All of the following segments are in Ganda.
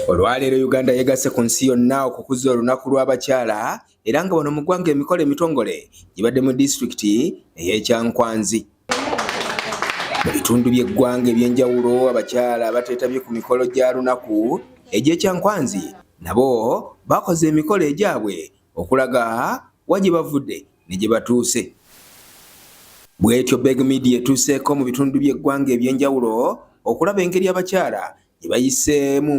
Olwaleero Uganda yegasse ku nsi yonna okukuza olunaku lw'abakyala era nga wano mu ggwanga emikolo emitongole gibadde mu disitulikiti ey'ekyankwanzi. Mu bitundu by'eggwanga eby'enjawulo abakyala abateetabye ku mikolo gya lunaku egy'ekyankwanzi nabo bakoze emikolo egyabwe okulaga wa gye bavudde ne gye batuuse. Bwetyo Beg Media etuuseeko mu bitundu by'eggwanga eby'enjawulo okulaba engeri abakyala gye bayiseemu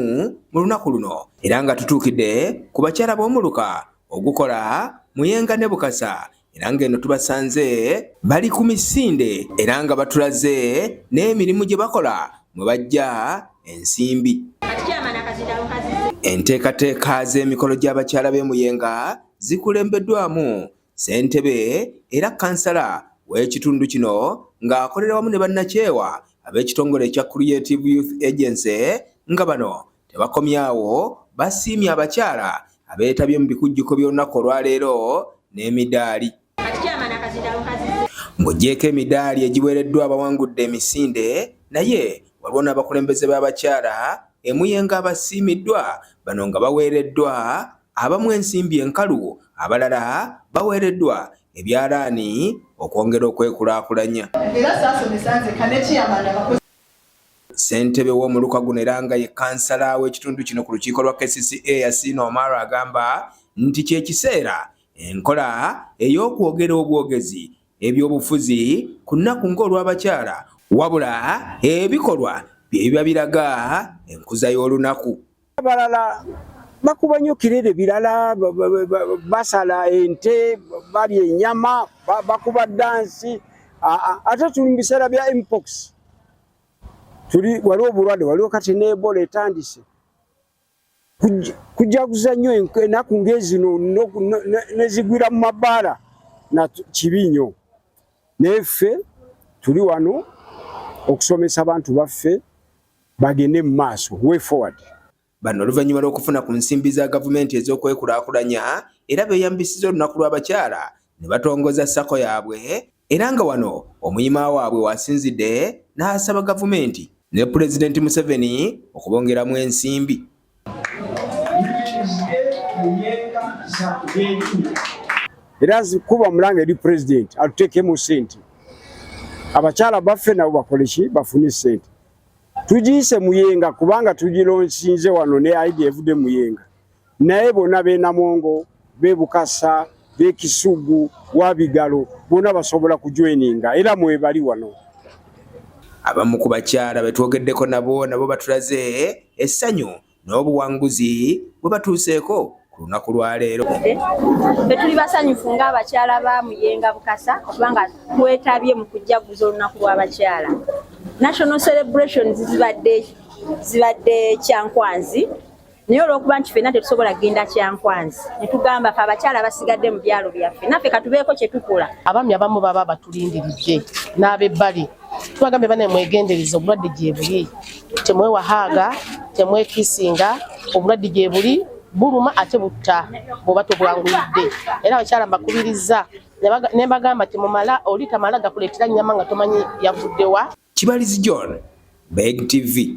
mu lunaku luno era nga tutuukidde ku bakyala b'omuluka ogukola Muyenga ne Bukasa era ng'eno tubasanze bali ku misinde era nga batulaze n'emirimu gye bakola mwe bajja ensimbi. Enteekateeka z'emikolo gy'abakyala b'e Muyenga zikulembeddwamu Ssentebe era kansala w'ekitundu kino ng'akolera wamu ne bannakyewa ab'ekitongole ekya Creative Youth Agency nga bano tebakomyawo basiimye abakyala abeetabye mu bikujjuko by'olunaku olwaleero n'emidaali ng'ogyeko emidaali egiweereddwa abawangudde emisinde naye waliwo n'abakulembeze b'abakyala emuyenga abasiimiddwa bano nga baweereddwa abamu ensimbi enkalu abalala baweereddwa ebyalaani okwongera okwekulaakulanya. Ssentebe w'omuluka guno era nga ye kansala w'ekitundu kino ku lukiiko lwa kcca Yasin Omar agamba nti kye kiseera enkola ey'okwogera obwogezi ebyobufuzi ku nnaku ng'olw'abakyala wabula ebikolwa bye biba biraga enkuza y'olunaku. abalala bakuba nnyo kirere birala basala ente balya enyama bakuba dansi ate tuli mu biseera bya mpox tuli waliwo obulwadde waliwo kati neebola etandise kujaguza nnyo enaku ngezino nezigwira mu mabaala na kibi nnyo naye ffe tuli wano okusomesa abantu baffe bagende mu maaso way forward. Bano oluvannyuma lw'okufuna ku nsimbi za gavumenti ez'okwekulaakulanya era beeyambisizza olunaku lw'abakyala ne batongoza sako yaabwe era nga wano omuyima waabwe wasinzidde n'asaba gavumenti ne Pulezidenti Museveni okubongeramu ensimbi. era kuba mulanga eri pulezidenti atuteekemu sente abakyala baffe nabo bakoleki bafune sente tugiyise muyenga kubanga tugilonsinze wano ne aidi evude muyenga naye bona benamongo be Bukasa be Kisugu wa Bigalo bona basobola kujoininga era mwebali wano abamu ku bakyala be twogeddeko nabo nabo batulaze essanyu n'obuwanguzi bwe batuuseeko ku lunaku lwaleero betuli basanyufu ng'abakyala ba muyenga bukasa okubanga twetabye mu kujjaguza olunaku lw'abakyala national celebrations zibadde zibadde kyankwanzi naye olwokuba nti fenna tetusobola kugenda kyankwanzi netugamba fe abakyala basigadde mu byalo byaffe naffe katubeeko kyetukola abaami abamu baba batulindiridde n'abebbali tubagambye banaye mwegendereza obulwadde gyebuli temwewahaaga temwekisinga obulwadde gyebuli buluma ate butta bwoba tobwanguyidde era abakyala mbakubirizza nembagamba temumala oli tamala gakuleetera nyama nga tomanyi yavuddewa kibalizi john beg tv